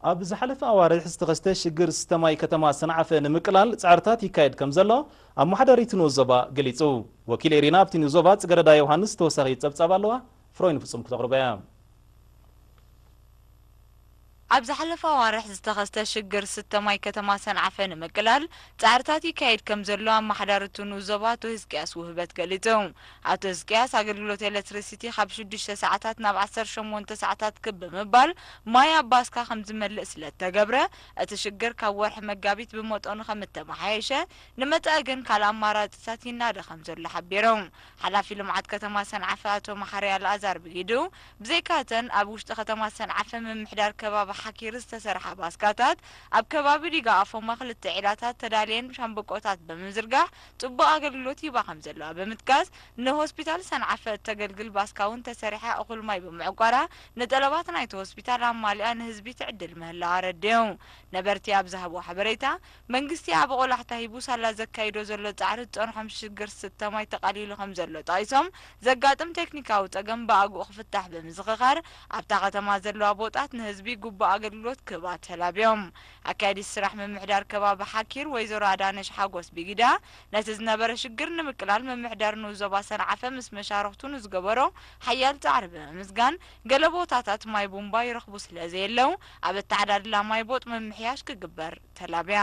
ኣብ ዝሓለፈ ኣዋርሕ ዝተኸስተ ሽግር ዝስተ ማይ ከተማ ሰንዓፈ ንምቅላል ፃዕርታት ይካየድ ከምዘሎ ኣመሓዳሪ እቲ ንኡስ ዞባ ገሊፁ። ወኪል ኤሪና ኣብቲ ንኡስ ዞባ ፅገረዳ ዮውሃንስ ተወሳኺ ፀብፃብ ኣለዋ ፍሮይ ንፍፁም ክተቕርቦ እያ። ኣብ ዝሓለፈ ኣዋርሕ ዝተኸስተ ሽግር ዝስተ ማይ ከተማ ሰንዓፈ ንምቅላል ፃዕርታት ይካየድ ከምዘሎ ኣመሓዳሪ እቲ ንኡስ ዞባ ኣቶ ህዝቅያስ ውህበት ገሊፁ። ኣቶ ህዝቅያስ፣ ኣገልግሎት ኤለትሪሲቲ ካብ ሽዱሽተ ሰዓታት ናብ ዓሰርተ ሸሞንተ ሰዓታት ክብ ብምባል ማይ ኣብ ባስካ ከምዝመልእ ስለእተገብረ፣ እቲ ሽግር ካብ ወርሒ መጋቢት ብመጠኑ ከምእተመሓየሸ፣ ንመጻኢ ግን ካልእ ኣማራጺታት ይናደ ከምዘሎ ሓቢሮም። ሓላፊ ልምዓት ከተማ ሰንዓፈ ኣቶ መሓሪ ኣልኣዛር ብግዲኡ፣ ብዘይካ እተን ኣብ ውሽጢ ከተማ ሰንዓፈ ምምሕዳር ከባቢ ሓኪሪ ዝተሰርሓ ባስካታት፣ ኣብ ከባቢ ዲጋ ኣፎማ ክልተ ዒላታት ተዳልየን ሻምብቆታት ብምዝርጋሕ ፅቡቕ ኣገልግሎት ይህባ ከምዘለዋ ብምጥቃስ፣ ንሆስፒታል ሰንዓፈ እተገልግል ባስካ'ውን ተሰሪሓ እኹል ማይ ብምዕቋራ ንጠለባት ናይቲ ሆስፒታል ኣማሊኣ ንህዝቢ ትዕድል ምህላዋ ኣረዲኡ። ነበርቲ ኣብ ዝሃብዎ ሓበሬታ፣ መንግስቲ ዓቢ ቆላሕታ ሂቡ ሳላ ዘካይዶ ዘሎ ፃዕሪ ዝፀንሖም ሽግር ዝስተ ማይ ተቃሊሉ ከምዘሎ ጠቒሶም፣ ዘጋጥም ቴክኒካዊ ፀገም ብኣግኡ ክፍታሕ ብምዝኽኻር ኣብታ ከተማ ዘለዋ ቦጣት ንህዝቢ ግቡእ ኣገልግሎት ክህባ ተላብዮም። ኣካያዲት ስራሕ ምምሕዳር ከባቢ ሓኪር ወይዘሮ ኣዳነሽ ሓጎስ ቢጊዳ፣ ነቲ ዝነበረ ሽግር ንምቅላል ምምሕዳር ንኡስ ዞባ ሰንዓፈ ምስ መሻርኽቱ ንዝገበሮ ሓያል ጻዕሪ ብምምስጋን፣ ገለ ቦታታት ማይ ቡምባ ይረኽቡ ስለዘየለው ኣብ ኣተዓዳድላ ማይ ቦጥ ምምሕያሽ ክግበር ተላብያ።